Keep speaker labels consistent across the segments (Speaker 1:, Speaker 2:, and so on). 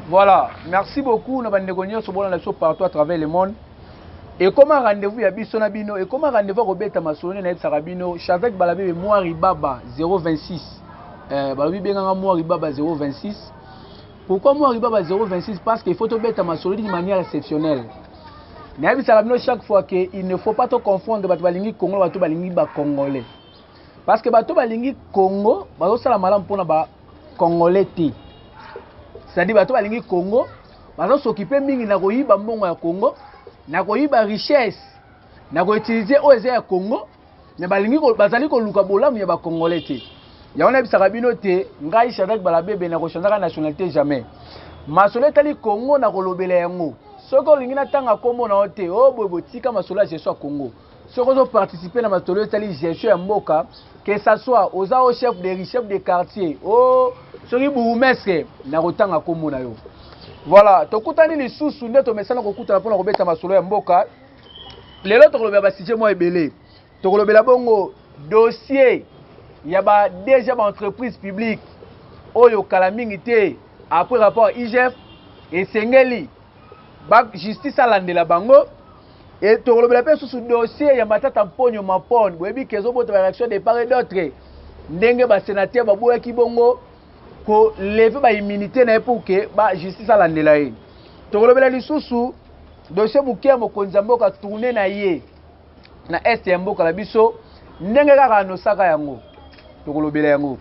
Speaker 1: Voilà, merci beaucoup na bandeko nyonso bona na biso partout à travers le monde. Et comme un rendez-vous ya biso na bino, et comme un rendez-vous ko beta masolo na yebisaka bino, Chavek Balabebe Mwari Baba 026. Euh, balobi benganga Mwari Baba 026. Pourquoi moi riba ba 026 parce qu'il faut tobeta masolo d'une manière exceptionnelle. nayebisaka bino chaque fois que il ne faut pas to confondre bato balingi congo na bato balingi bacongolais parce que bato balingi congo bazosala malamu mpona bacongolais te c'est-à-dire bato balingi congo bazosokipe mingi na koyiba mbongo ya congo na koyiba richesse na koutilize oyo eza ya congo mais balingi bazali koluka bolamu ya bacongolais te yango nayebisaka bino te ngai shadrack balabebe nakochanzaka nationalité jamais masolo etali congo nakolobela yango soki olingi natanga nkombo na yo te o oh, boye botika masolo ya gestion ya congo soki ozoparticipe na masolo etali gestion ya mboka que ça soit oza o oh, chef de riz chef de quartier o oh, soki bourgmestre nakotanga nkombo na yo voilà tokutani lisusu nde tomesana kokutana mpo na kobeta masolo ya mboka lelo tokolobela basujet mwa ebele tokolobela bongo dossier ya ba dg ba entreprise publique oyo kala mingi te après rapport igf esengeli ba justice alandela bango e tokolobela mpe susu dossier ya matata mponyo mapone boyebi ke ezobota ba réaction de part et d'autre ndenge basenateur baboyaki bongo ko lever ba immunité na ye pour que ba justice alandela ye tokolobela lisusu dossier moke ya mokonzi ya mboka tourne na ye na est ya mboka na biso ndenge kaka anosaka yango tokolobela yango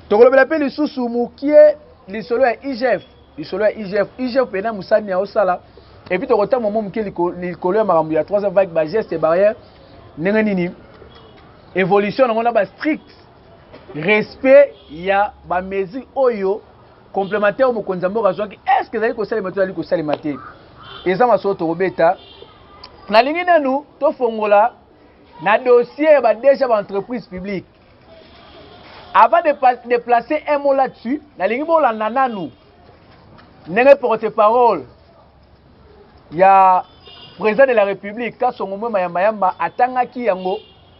Speaker 1: tokolobela mpe lisusu mokie lisolo ya igf lisolo ya igf igf mpena mosani ya osala epuis tokotanga mo moke likolo ya makambo ya 3 vague bageste barrière ndenge nini évolution yango na bastricte respect ya ba mesure oyo complémentaire oyo mokonzi ya mboka azwaki est ce que ezali kosalema to ezali kosalema te eza masolo tokobeta nalingi nanu tofongola na dossier ya badeja baentreprise publique avant de, de placer un mot là-dessus nalingi bolanda nanu ndenge porte parole ya président de la république kasongo mwe mayambayamba atangaki yango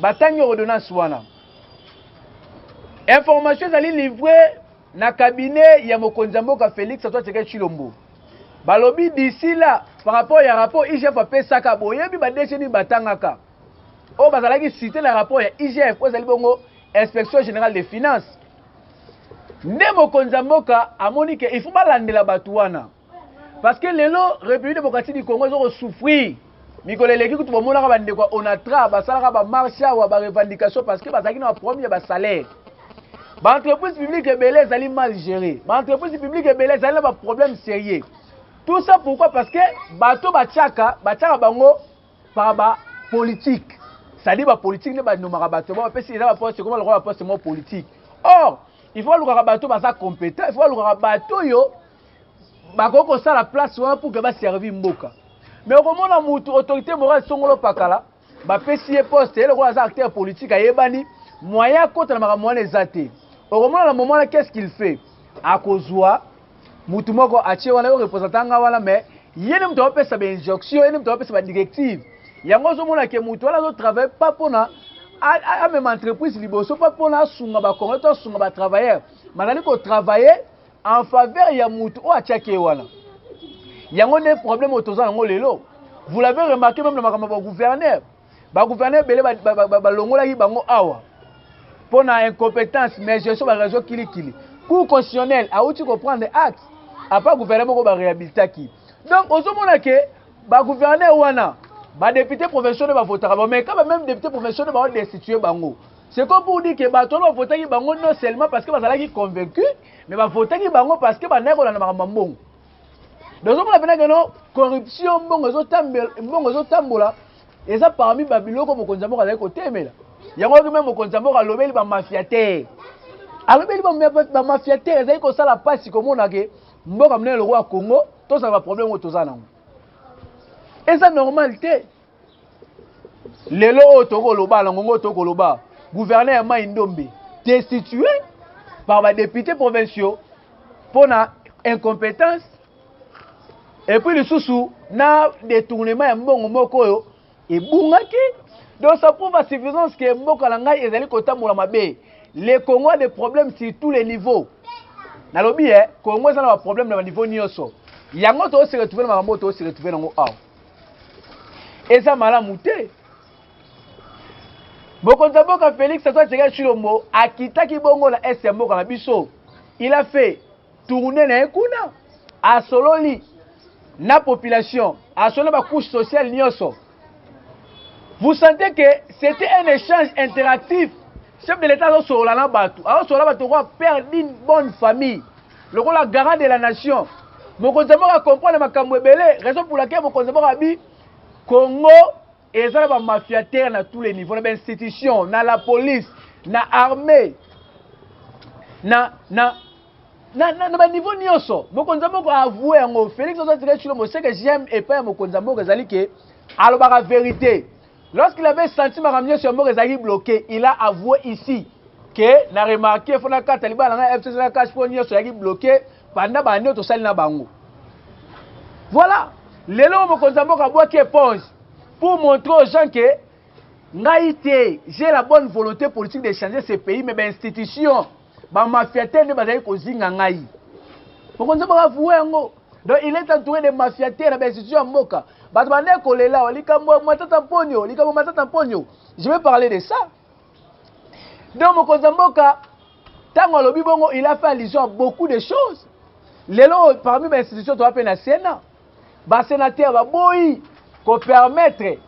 Speaker 1: Batangi ordonnance wana. Information ezali livre na cabinet ya mokonzi ya mboka Felix Antoine Tshisekedi Chilombo. Balobi d'ici là par rapport ya rapport IGF apesaka boyebi ba DG ni batangaka. Oyo bazalaki cité na rapport ya IGF oyo ezali bongo Inspection Générale des Finances. Nde mokonzi ya mboka amoni ke il faut balandela bato wana. Parce que lelo République démocratique du Congo ezoko souffrir. Mikolo eleki kutu bomonaka bandeko ya Onatra basalaka ba marche awa ba revendication parce que bazalaki na problème ya ba salaire. Ba entreprises publiques ebele ezali mal gérées. Ba entreprises publiques ebele ezali na ba problèmes sérieux. Tout ça pourquoi parce que bato batiaka batiaka bango par ba politique. C'est-à-dire ba politique ne ba nomaka bato ba pesi eza ba poste comme lokola poste mo politique. Or, il faut lukaka bato baza compétent, il faut lukaka bato yo bakoki kosala place wana pour que baservi mboka me okomona mutu autorité morale songolo pakala bapesi ye poste ye lokola aza acteur politique ayebani moyen akota na makambo wana eza te okomona na momo wana qu'est ce qu'il fait akozwa mutu moko atie wana yo représentant nga wana mais ye nde moto aopesa bainjonction ye nde moto aopesa badirective yango ozomona ke moto wana azotravaille pa mpona amema entreprise liboso pa mpona asunga bacongolais to asunga batravailleur mazali kotravaille en faveur ya mutu oyo atiaki ye wana yango nde problème oyo toza yango lelo vous l'avez remarqué même na makambo ya bagouverneur bagouverneur ebele balongolaki bango awa mpo na incompétence mais gestion bareseau kilikili cour constitutionnel awuti koprendre acte apa gouverneur moko baréhabilitaki donc ozomona ke bagouverneur wana badepute provinciaux nde bavotaka bango mais kaka même depute provinciaux nde baodestitue bango C'est comme pour dire que bato wana bavotaki bango non seulement parce que bazalaki convaincu, mais bavotaki bango parce que bandaki kolanda makambo ya mbongo. Donc ozomona mpena keno corruption mbongo mbongo ezotambola eza parmi babiloko mokonzi ya mboka azali kotemela yango oyoki meme mokonzi ya mboka alobeli bamafia te alobeli bamafia te ezali kosala mpasi komona ke mboka monene lokola congo tozala baproblème oyo toza nango eza normal te lelo oyo tokoloba na ngongo tokoloba gouverneur ya mai ndombe destitue par badepute provinciaux mpo na incompétence epuis lisusu na détournement ya mbongo moko oyo ebungaki donc ça prouve à suffisance ke mboka na ngai ezali kotambola mabe le congo a des problèmes sur tous les niveaux nalobi e eh, congo eza na baproblème na baniveau nyonso yango toose retrouve na makambo oyo toose retrouve nango awa eza malamu te mokonzi ya mboka félix antoine tshisekedi tshilombo akitaki bongo na est ya mboka na biso il a fait tourne na ye kuna asololi na population asololi na bacouche sociale nyonso vous sentez que c'était un échange interactif chef de l'état azosolola na bato azosolola bato kwa père d'une bonne famille Lokola garant de la nation, mokonzi ya mboka a comprendre makambu ebele, raison pour laquelle mokonzi ya mboka abi Congo eza na ba mafiateur na tous les niveaux, na ba institutions, na la police, na armee, na na na, na, na ba niveau nioso mokonzi ya mboka a avouer yango. Felix azo tika chilo moseke j'aime epai ya mokonzi ya mboka ezali ke alobaka verite. Lorsqu'il avait senti makambo nyonso ya mboka ezalaki bloque, il a avoue ici que na remarquer faut nakata libala na ngai FCC na CACH mpo nyonso ezalaki bloque banda bande oyo tosali na bango. Voilà. Lelo oyo mokonzi ya mboka abwaki éponge pour montrer aux gens que ngai te j'ai la bonne volonté politique de changer ce pays mais ba institutions Ba mafiates nde bazali kozinga ngai. Mokonzi mboka avouer yango. Donc il est entouré de mafiates na ba institutions ya mboka. Bato bandaki kolela wa likambo ya Matata Mponyo, likambo Matata Mponyo. Je vais parler de ça. Donc mokonzi mboka ntango alobi bongo il a fait allusion à beaucoup de choses. Lelo parmi ba institutions toa pe na Sénat. Ba senateurs baboyi ko permettre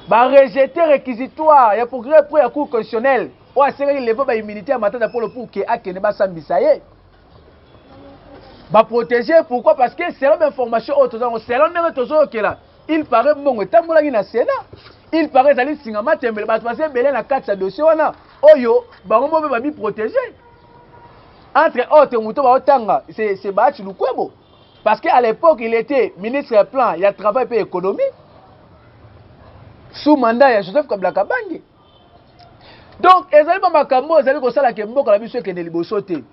Speaker 1: ba rejeter requisitoire ya procureur pro ya cour constitutionnelle oyo asengaki levant ba immunité ya Matata Polo pour que akende basambisa ye ba proteger pourquoi parce que selon ba information oyo tozango selon ndenge tozoyokela il paraît mbongo etambolaki na Sénat il paraît ezali nsinga matembele bato baza ebele na kati ya dossier wana oyo bango moko mpe bamiprotege entre autres moto baotanga se baachi lukwebo Parce que à l'époque il était ministre ya plan ya travail pe économie sous mandat ya Joseph Kabila Kabange. Donc ezali ba makambo ezali kosala ke mboka na biso ekende liboso te.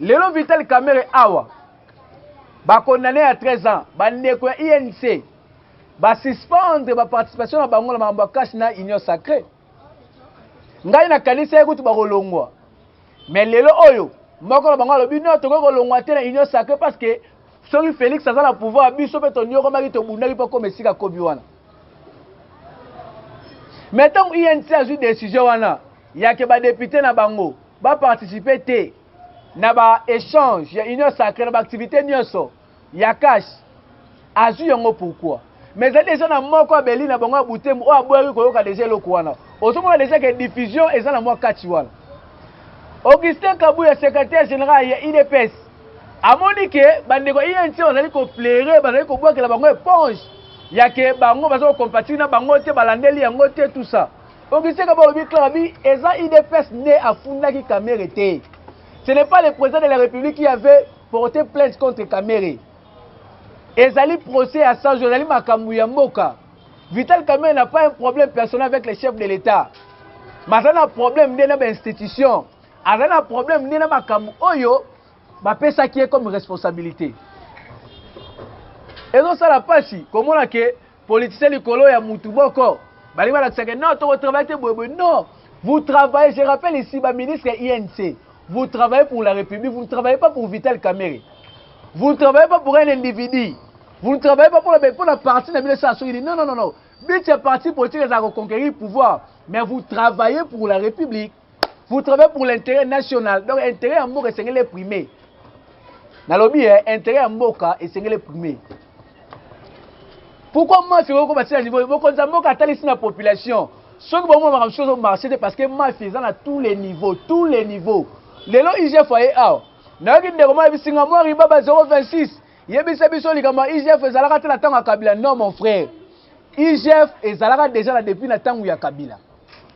Speaker 1: Lelo Vital Kamerhe awa ba condamné à 13 ans ba ndeko ya INC ba suspendre ba participation na bango na makambo ya cash na union sacrée. ngai nakanisaki kutu bakolongwa mais lelo oyo moko na bango alobi no tokoki kolongwa te na union sacré parce que soki félix aza na pouvoir biso mpe toniokomaki tobundaki mpo akoma esika akomi wana mais ntango inc azwi décision wana yake badepute na bango baparticipe te na baéchange ya union sacré na baactivité nyonso ya cash azwi yango pourquoi mais ezali deja na moko abeli na bango ya butembo oyo aboyaki koyoka deja eloko wana ozomona deja ke diffusion eza na mwa kati wana augustin kabuya secrétaire général ya idps amoni ke bandeko ya inc bazali koflere bazali kobwakela bango eponge ya ke bango baza kocompatire na bango te balandeli yango te tout ça augustin kabuya alobi clara bi eza idps nde afundaki kamere te ce n'est pas le président de la république qui avait Porter plainte contre Kamerhe ezali procès ya 100 jours, ezali makambo ya mboka. Vital Kamerhe n'a pas un problème personnel avec le chef de l'État. Mais aza na problème nde na ba institution, aza na problème nde na makambo oyo bapesaki ye comme responsabilité. Ezosala pasi komona ke Politicien likolo ya mutu moko. Balingi balakisa ke non toko travailler te boye boye non vous travaillez je rappelle ici ba ministre ya INC vous travaillez pour la Republique vous ne travaillez pas pour Vital Kamerhe vous ne travaillez pas pour un individu vous ne travaillez pas pona pona parti na bino esala soki nini non non non non but ya parti politique ezala ko conquérir pouvoir mais vous travaillez pour la Republique vous travaillez pour l'intérêt national donc intérêt ya mboka esengeli eprime nalobi eh, intérêt ya mboka esengeli eprime pourquoi mafi okokoma ntina niveau mokonzi ya mboka atalisi na population soki bomona makambo soki ozomarche te parce que mafi eza na tous les niveaux tous les niveaux lelo igf aye awa nayoki ndeko mwa yebisi nga mwa ribaba 026 yebisa biso likambo ya igf ezalaka te na ntango ya kabila non mon frère igf ezalaka déjà na depuis na ntango ya kabila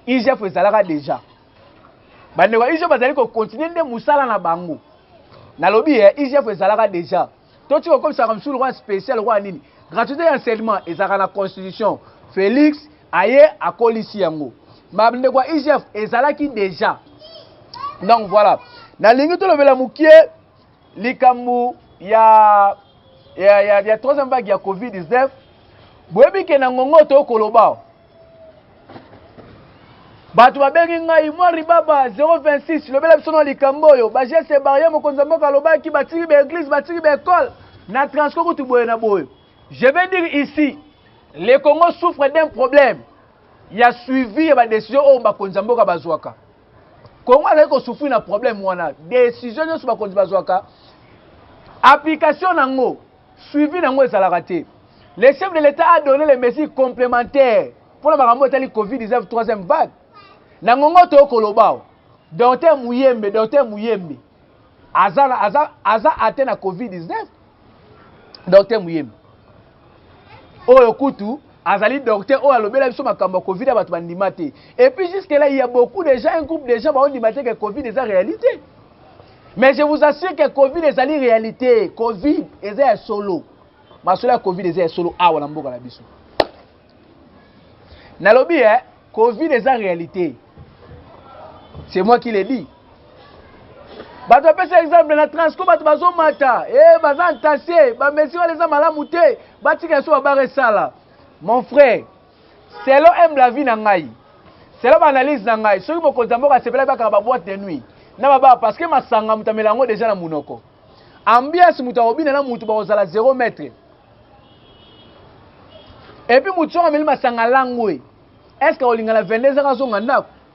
Speaker 1: igf ezalaka deja bandeko ya igf bazali kokontinue nde mosala na bango nalobi ya igf ezalaka deja toti kokomisaka mosusu lokola spécial lokola nini gratuité ya enseignement ezalaka na constitution félix aye akolisi yango bandeko ya igf ezalaki deja donc voilà nalingi tolobela mokie likambo ya ya, ya, ya troisième vague ya covid-19 boyebi ke na ngongo tokoloba bato babengi ngai mwa ribaba 026 lobela biso na likambo oyo bageste barrière mokonzi ya mboka alobaki batiki baeglise batiki baekole na transco kutu boye na boye je vais dire ici le congo souffre d'un problème ya suivi ya badesizio oyo bakonzi ya mboka bazwaka kongo azali kosufri na problème wana desizio nyonso bakonzi bazwaka application na yango Suivi na yango ezalaka te. Le chef de l'Etat a donne les mesures complementaires mpo na makambo etali Covid-19 troisième vague. Na ngongo toyo koloba awa, Docteur Muyembe, Docteur Muyembe aza na aza aza ate na Covid-19. Docteur Muyembe oyo kutu azali docteur oyo alobela biso makambo ya covid ya bato bandima te et puis jusque là il y a beaucoup de gens un groupe de gens baondima te que covid eza réalité mais je vous assure que covid ezali réalité covid eza ya solo masolo ya covid eza ya solo awa na mboka na biso nalobi eh, covid eza réalité c'est moi qui le dit bato bapesa exemple na transco bato bazomata e eh, baza ntase bamesire wana eza malamu te batika yaso babara esala mon frère Selon humble avis na ngai, selon ba analyse na ngai, soki mokonzi ya mboka asepelaki bakanga ba boîte de nuit na ba bar parce que masanga moto amela yango deja na munoko. Ambiance moto akobina na moto bakozala 0 mètre. Et puis moto soki ameli masanga langwe, est-ce que akolingana 22 ans azonga ndako?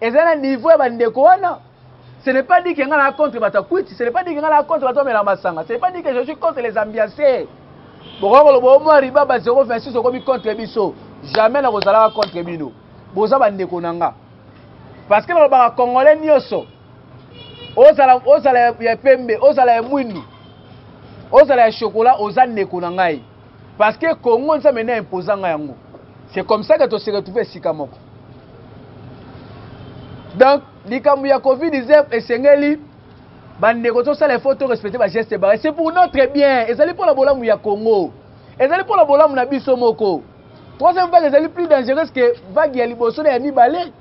Speaker 1: Eza na niveau ya ba ndeko wana. Ce n'est pas dit que nga na contre bato ya kwiti, ce n'est pas dit que nga na contre bato bamela masanga, ce n'est pas dit que je suis contre les ambianceurs. Bokoki koloba o mwa riba ba 026 okomi contre biso. Jamais nakozalaka contre bino. Boza ba ndeko na nga. Parce que nalobaka congolais nyonso ozala ozala ya pembe, ozala ya mwindu, ozala ya chocolat, oza ndeko na ngai. Parce que Congo nzambe na imposa nga yango. C'est comme ça que to se retrouver esika moko. Donc likambo ya Covid-19 esengeli bandeko tosala effort to respecter ba gestes barrières. C'est pour notre bien. Ezali mpo na bolamu ya Congo. Ezali mpo na bolamu na biso moko. Troisième vague ezali plus dangereuse que vague ya liboso na ya mibale.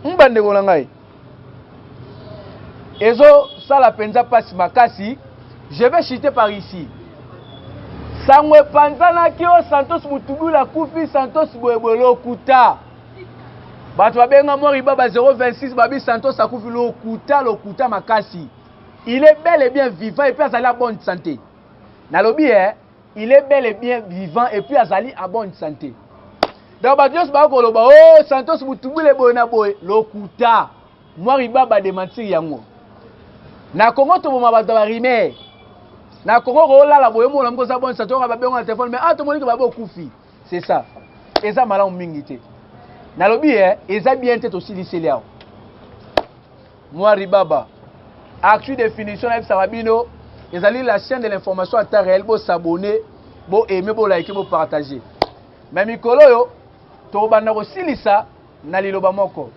Speaker 1: Hum bandeko na ngai. Ezo sala penza pasi makasi. Je vais chuter par ici. Sango epanzanaki o Santos Mutubula kufi Santos boyeboye lokuta. Bato babenga Mori Baba 026 babi Santos akufi lokuta lokuta makasi. Il est bel et bien vivant et puis azali na bonne santé. Nalobi eh il est bel et bien vivant et puis azali à bonne santé donc bato nyonso baya koloba o oh, santos mutubule boye na boye lokuta mwa riba badementir yango na kongo toboma bato ya barimer na kongo koolala boye omona moko oza bonne santé oyoka babengo na telefone mais a ah, tomoni ke babe okufi c'est ça eza malamu mingi te nalobi e eh, eza bien te tosiliseli awa Nwari Baba. Actu definition nayebisaka bino ezali la chaîne de l'information à temps réel bo s'abonner bo aimer bo liker bo partager mais mikolo oyo tokobanda kosilisa na liloba moko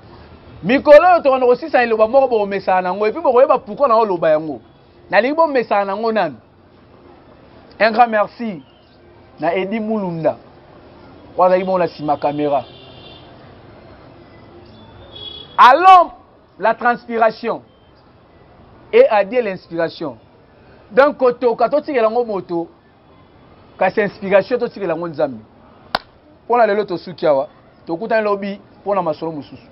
Speaker 1: mikolo oyo tokobanda kosilisa na liloba moko bokomesana nango epuis bokoyeba pourkui na oloba yango nalingi bomesana nango nanu un grand merci na edi mulunda oyo azalaki bongo na nsima kamera allons la transpiration et adie l'inspiration donc kotoka totikela yango moto kasi inspiration totikela yango nzambe mpo na lelo tosuki awa tokutani lobi mpo na masolo mosusu